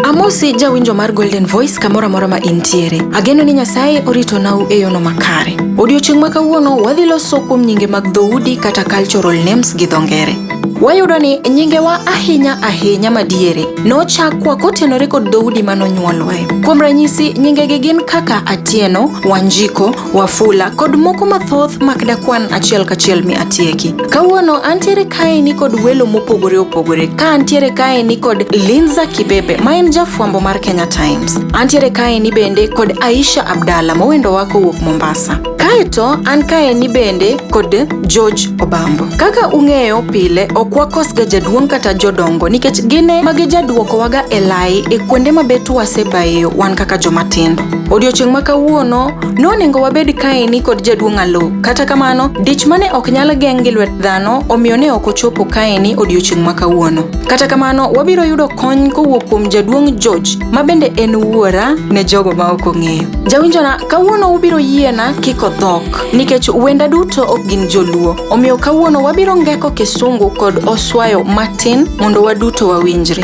Amosi jawinjo mar Golden Voice kamoro amora ma intiere. Ageno ni Nyasaye orito nau e yono makare. Odiochieng' ma kawuono wadhi loso kuom nyinge mag dhoudi kata cultural names gi dho ngere. Wayudo ni nyingewa ahinya ahinya madiere nochakwa kotenore kod dhoudi manonyuolwae. Kuom ranyisi, nyingegi gin kaka Atieno, Wanjiko, Wafula kod moko mathoth mak dakwan achiel kachiel mi atieki. Kawuono antiere kae ni kod welo mopogore opogore ka antiere kae ni kod Linza Kibebe ma en jafwambo mar Kenya Times. Antiere kae ni bende kod Aisha Abdalla mowendo wako wuok Mombasa. Kaeto an kae ni bende kod George Obambo. Kaka ung'eyo pile ok wakosga jaduong' kata jodongo nikech gine magi jaduokowaga e lai e kuonde mabet wasebayo wan kaka jomatindo. Odiochieng' ma kawuono, noningo wabed kaeni kod jaduong' Alo. Kata kamano, dich mane ok nyal geng' gi lwet dhano, omiyo ne ok ochopo kaeni odiochieng' ma kawuono. Kata kamano, wabiro yudo kony kowuok kuom jaduong' George, ma bende en wuora ne jogo ma ok ong'eyo. Jawinjona, kawuono ubiro yiena kiko dhok, nikech wenda duto ok gin joluo. Omiyo kawuono wabiro ngeko kisungu kod oswayo matin mondo waduto wawinjre.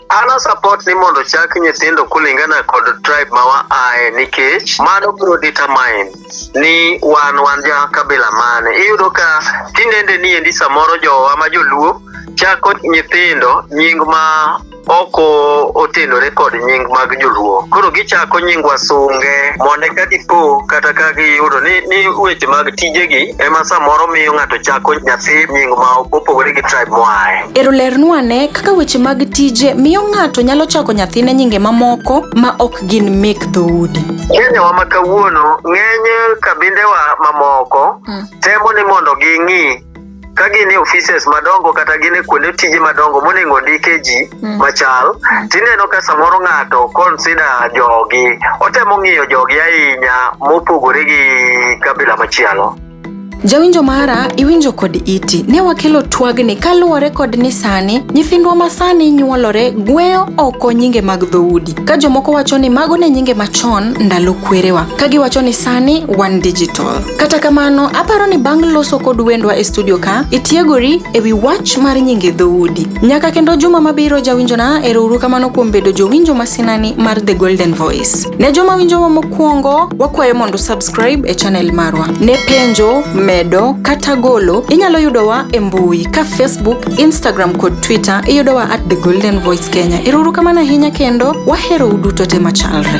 An a support ni mondo chak nyithindo kulingana kod tribe ma waaye nikech mano biro determine ni wan wan ja kabila mane. Iyudo ka tinende ni endi samoro jowa ma joluo chako nyithindo nying ma ok o- otenore kod nying mag joluo koro gichako nying wasunge mondo eka dipo kata ka giyudo ni, ni weche mag tijegi ema samoro miyo ng'ato chako nyathi nying ma opogore gi tribe moaye Ero lernu ane kaka weche mag tije miyo ng'ato nyalo chako nyathine nyinge mamoko ma ok gin mek dhoudi. Kenyawa ma kawuono ng'eny kabindewa mamoko temo ni mondo ging'i ka gin e offices madongo kata gin e kuonde tije madongo monego ondike ji machal tineno ka samoro ng'ato consider jogi otemo ng'iyo jogi ahinya mopogore gi kabila machielo Jawinjo mara, iwinjo kod iti. Ne wakelo twagni kaluwore kod ni sani nyithindwa ma sani nyuolore gweyo oko nyinge mag dhoudi. Ka jomoko wacho ni mago ne nyinge machon ndalo kwerewa, ka giwacho ni sani wan digital. Kata kamano, aparo ni bang' loso kod wendwa e studio ka, itiegori e wi wach mar nyinge dhoudi. Nyaka kendo juma mabiro jawinjona, erouru kamano kuom bedo jowinjo masinani mar The Golden Voice. Ne joma winjowa mokwongo, wakwayo mondo subscribe e channel marwa. Ne penjo, medo, kata golo, inyalo yudowa e mbui ka Facebook, Instagram kod Twitter iyudowa at The Golden Voice Kenya. Iruru kamano ahinya kendo wahero uduto te machalre.